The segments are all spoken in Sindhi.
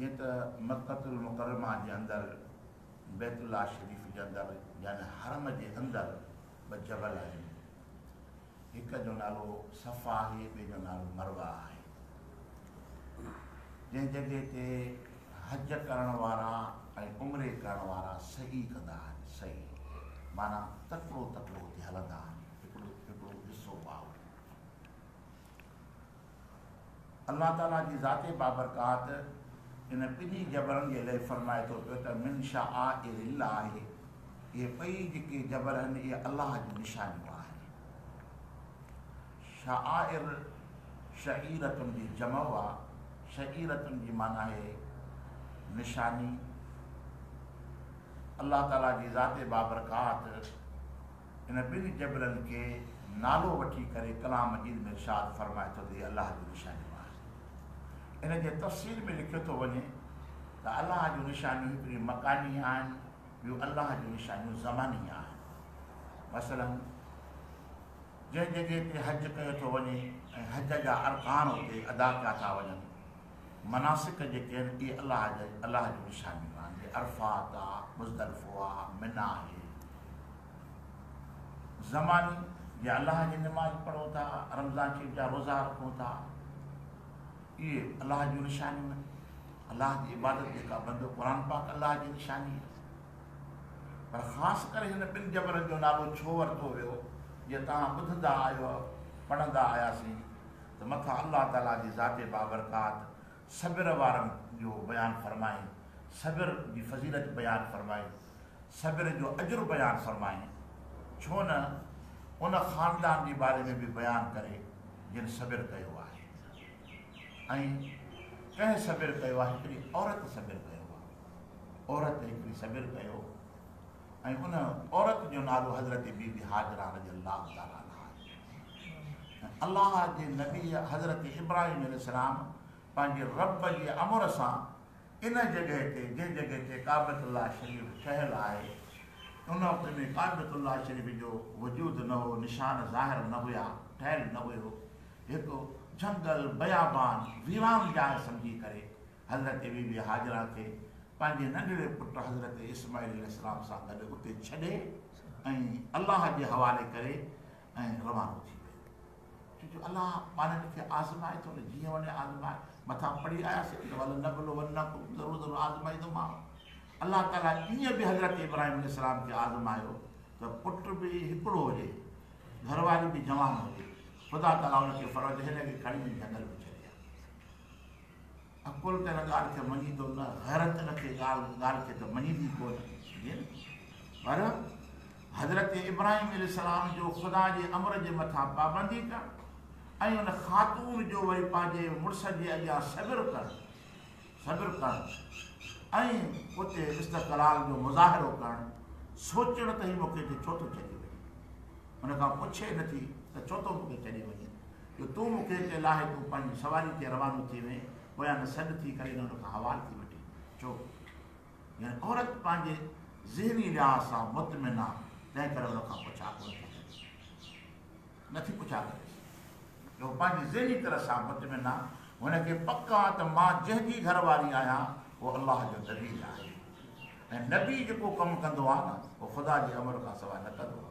جيئن ته مڪة المڪرمه جي اندر بيت الله شريف جي اندر يعني حرم جي اندر ٻه جبل آهن. هڪ جو نالو صفا آهي ٻئي جو نالو مروه آهي. جنهن جڳهه تي حج ڪرڻ وارا ۽ عمري ڪرڻ وارا سعي ڪندا آهن، سعي معنيٰ تڪڙو تڪڙو اتي هلندا آهن، هڪڙو هڪڙو حصو واهو. الله تعاليٰ جي ذات بابرڪات ان ٻنهي جبرن جي لئه فرمائي ٿو پيو ته من شعائر الله اهي ٻئي جيڪي جبر آهن اهي الله جون نشانيون آهن. شعائر شعيرة جي جمع آ، شعيرة جي معنيٰ آهي نشاني. الله تعاليٰ جي ذات بابرڪات. ان ٻن جبلن کي نالو وٺي ڪري ڪلام مجيد ۾ ارشاد فرمائي ٿو ته هي الله جون نشانيون آهن. ان جي تفصيل ۾ لکيو ٿو وڃي ته الله جون نشانيون هڪڙيون مڪاني آهن ٻيون الله جون نشانيون زماني آهن. مثلاً جنهن جڳهه تي حج ڪيو ٿو وڃي ۽ حج جا ارڪان اتي ادا ڪيا ٿا وڃن. مناسڪ جيڪي آهن اهي الله جا الله جون نشانيون آهن جي عرفات آ مزدلفو آ منيٰ آهي زماني جي الله جي نماز پڙهون ٿا رمضان شريف جا روزا رکون ٿا اهي الله جون نشانيون آهن الله جي عبادت جيڪا بندو قرآن پاڪ الله جي نشاني آهي پر خاص ڪري هن ٻن جبلن جو نالو ڇو ورتو ويو جي توهان ٻڌندا آهيو پڙهندا آياسين ته مٿان الله تعالي جي ذات بابرڪات صبر وارن جو بيان فرمائين، صبر جي فضيلت بيان فرمائي، صبر جو اجر بيان فرمائين، ڇو نه ان خاندان جي باري ۾ به بيان ڪري جن صبر ڪيو آهي ۽ ڪنهن صبر ڪيو آهي هڪڙي عورت صبر ڪيو آهي عورت هڪڙي صبر ڪيو. ۽ ان عورت جو نالو حضرت بي بي هاجره رضي الله تعالٰي عنها آهي ۽ الله جي نبي حضرت ابراهيم عليه السلام پنهنجي رب جي امر سان ان جڳهه تي جنهن جڳهه تي ڪعبت الله شريف ٺهيل آهي ان وقت ۾ ڪعبت الله شريف جو وجود نه هو نشان ظاهر نه هيا ٺهيل نه هيو هڪ جهنگل بيابان ويران جاء سمجهي ڪري حضرت بي بي هاجره کي پنهنجي ننڍڙي پٽ حضرت اسماعيل عليه السلام سان گڏ اتي ڇڏي ۽ الله جي حوالي ڪري ۽ روانو ٿي ويو ڇو جو الله ماڻهن کي آزمائي ٿو نه جيئن وڃي آزمائي مٿان پڙهي آياسين ته ول نبلو ول نڪم ضرور ضرور آزمائي ٿو ماڻهو الله تعالیٰ ائين به حضرت ابراهيم عليه السلام کي آزمايو ته پٽ به هڪڙو هجي گهر واري به جوان هجي خدا تعالیٰ ان کي فرض هن کي کڻي جنگل ۾ ڇڏي عقل ڪنھن ڳالھه کي مڃي ٿو نه غيرت ان کي ڳالھه کي ته مڃيندي ڪونه جي نه پر حضرت ابراھيم عليه السلام جو خدا جي امر جي مٿان پابندي ڪرڻ ۽ ان خاتون جو وري پنھنجي مڙس جي اڳيان صبر ڪرڻ صبر ڪرڻ ۽ اتي استقلال جو مظاھرو ڪرڻ سوچڻ ته ھي مون کي ھتي ڇو ٿو ڇڏي وڃي ان کان پڇي نٿي ته ڇو ٿو مون کي ڇڏي وڃي جو تون مون کي اتي لاهي تون پنهنجي سواري تي روانو ٿي وئين پويان نه سڏ ٿي ڪري نه ان کان حوال ٿي وٺي ڇو يعني عورت پنهنجي ذهني لحاظ سان مطمئن آ تنهن ڪري ان کان پڇا ڪونه ٿي ڪري نه ٿي پڇا ڪري جو پنهنجي ذهني طرح سان مطمئن آ هن کي پڪ آ ته مان جنهن جي گهر واري آهيان اهو الله جو نبي آهي ۽ نبي جيڪو ڪم ڪندو آ نه اهو خدا جي امر کان سواء نه ڪندو آ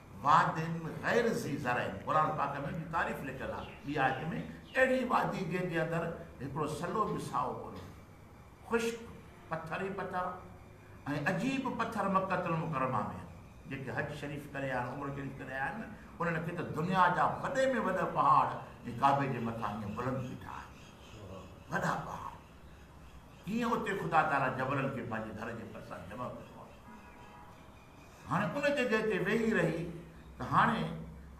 وادين غير ذي زرعين قرآن پاڪ ۾ ان جي تعريف لکيل آهي ٻي آيت ۾ اهڙي وادي جنهن جي اندر هڪڙو سلو به سائو ڪونه آهي خشڪ پٿر ئي پٿر ۽ عجيب پٿر مڪة المڪرمه ۾ آهن جيڪي حج شريف ڪري آيا آهن عمرو شريف ڪري آيا آهن انهن کي ته دنيا جا وڏي ۾ وڏا پهاڙ جي ڪعبي جي مٿان هيئن بلند بيٺا آهن وڏا پهاڙ هيئن اتي خدا تعالي جبلن کي پنهنجي گھر جي ڀرسان جمع ڪيو آهي هاڻي ان جڳهه تي ويهي رهي ته هاڻي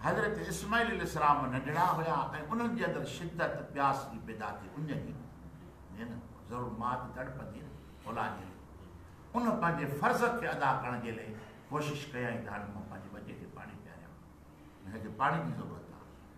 حضرت اسماعيل عليه السلام ننڍڙا هيا ۽ انهن جي اندر شدت پياس جي پيدا ٿي ان جي جيئن ضرور ماء ته تڙپندي نه اولاد جي لئي ان پنهنجي فرض کي ادا ڪرڻ جي لئي ڪوشش ڪيائين ته هاڻي مان پنهنجي ٻچي کي پاڻي پياريان هن کي پاڻي جي ضرورت آهي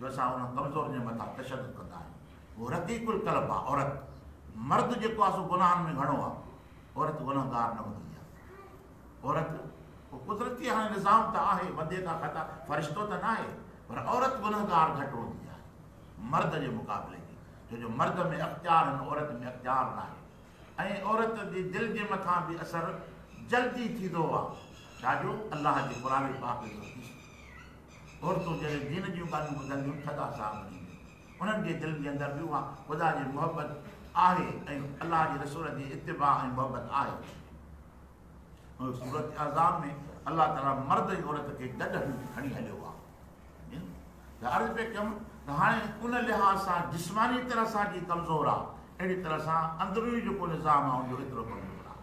جو اسان ان ڪمزور جي مٿان تشدد ڪندا آهيون. هو رقيق القلب آ عورت. مرد جيڪو آ سو گناهن ۾ گهڻو آ. عورت گنهگار نه هوندي آ. عورت اهو قدرتي هاڻي نظام ته آهي بندي ڪا خطا فرشتو ته ناهي پر عورت گنهگار گهٽ هوندي آهي مرد جي مقابلي ۾ ڇو جو مرد ۾ اختيار آهن عورت ۾ اختيار ناهي ۽ عورت جي دل جي مٿان به اثر جلدي ٿيندو آ ڇا جو الله جي قرآن پاڪ جو حديث عورتون جڏهن دين جون ڳالهيون ٻڌنديون ٿڌا ساهه ڀرينديون. انهن جي دلن جي اندر به اها خدا جي محبت آهي ۽ الله جي رسول جي اتباع ۽ محبت آهي. سورة احزاب ۾ الله تعاليٰ مرد ۽ عورت کي گڏ کڻي هليو آهي. جن لاء عرض پئي ڪيم ته هاڻي ان لحاظ سان جسماني طرح سان جي ڪمزور آهي، اهڙي طرح سان اندروني جيڪو نظام آهي ان جو ايترو ڪمزور آهي.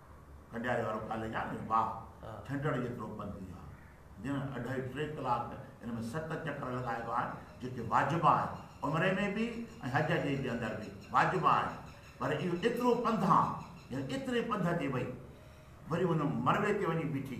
ڪنڊياري وارو ڪاليج آهي نه واهه ڇنڊڙ جيترو پنڌ ئي آهي جنھن اڍائي ٽي ڪلاڪ ان ۾ ست چڪر لڳائي ويا آهن جيڪي واجب آهن عمري ۾ به ۽ حج جي جي اندر به واجب آهن پر اهو ايترو پنڌ آهن يعني ايتري پنڌ تي وئي وري ان مروي تي وڃي بيٺي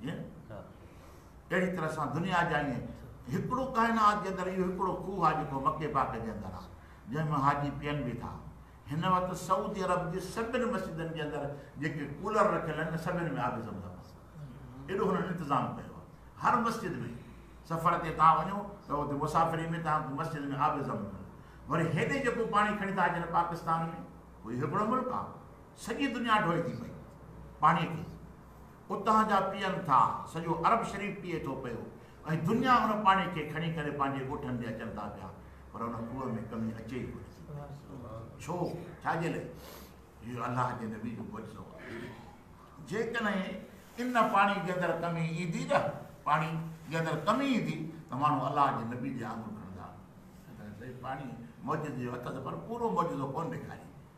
جيئن اهڙي طرح سان دنيا جا ائين هڪڙو ڪائنات جي اندر اهو هڪڙو کوهه آهي جيڪو مڪي پاڪ جي اندر آهي جنهن مان حاجي پيئن به ٿا هن وقت سعودي عرب جي سڀن مسجدن جي اندر جيڪي ڪولر رکيل آهن سڀن ۾ آب زم زم ايڏو هنن انتظام ڪيو آهي هر مسجد ۾ سفر تي تان وڃو ته اتي مسافري ۾ تان مسجد ۾ آب زم زم وري هيڏي جيڪو پاڻي کڻي ٿا اچن پاڪستان ۾ هو هڪڙو ملڪ آهي سڄي دنيا ڍوئي ٿي پئي پاڻي کي اتان جا پيئن ٿا، سڄو عرب شريف پيئي ٿو پيو ۽ دنيا ان پاڻي کي کڻي ڪري پنهنجي ڳوٺن تي اچن ٿا پيا پر ان کوهه ۾ ڪمي اچي ئي ڪونه ٿي پئي. ڇو؟ ڇا جي لئي؟ اهو الله جي نبي جو معجزو آهي. جيڪڏهن ان پاڻي جي اندر ڪمي ايندي نه، پاڻي جي اندر ڪمي ايندي ته ماڻهو الله جي نبي ڏي آڱر کڻندا. سائين پاڻي معجزي جو هٿ ته پر پورو معجزو ڪونه ڏيکاريندي.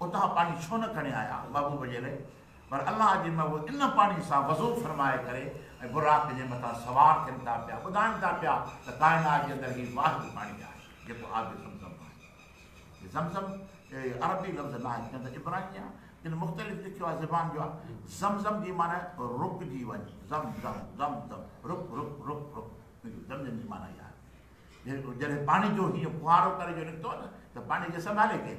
اتان پاڻي ڇو نه کڻي آيا محبوب جي لئه پر الله جي محبوب ان پاڻي سان وضو فرمائي ڪري ۽ براق جي مٿان سوار ٿين ٿا پيا ٻڌائين ٿا پيا ته ڪائنات جي اندر هي واحد پاڻي آهي جيڪو آب زمزم آهي هي زمزم عربي لفظ ناهي ڪن ته عبراني آهي ڪن مختلف لکيو آهي زبان جو آهي زمزم جي معنی رڪجي وڃي زم زم زم زم رڪ رڪ رڪ رڪ زمزم جي معنی آهي جڏهن پاڻي جو هيئن ڦوهارو ڪري جو نڪتو نه ته پاڻي کي سنڀالي ڪير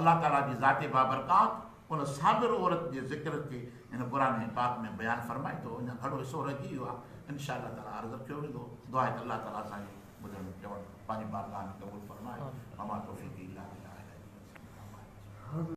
الله تعاليٰ جي ذات بابرڪات ان صابر عورت جي ذڪر کي هن قرآن پاڪ ۾ بيان فرمائي ٿو اڃا گهڻو حصو رهجي ويو آهي ان شاء الله تعاليٰ عرض رکيو ويندو دعا آهي ته الله تعاليٰ اسان جي ٻڌڻ چوڻ پنهنجي بارگاهه ۾ قبول فرمائي وما توفيقي الا بالله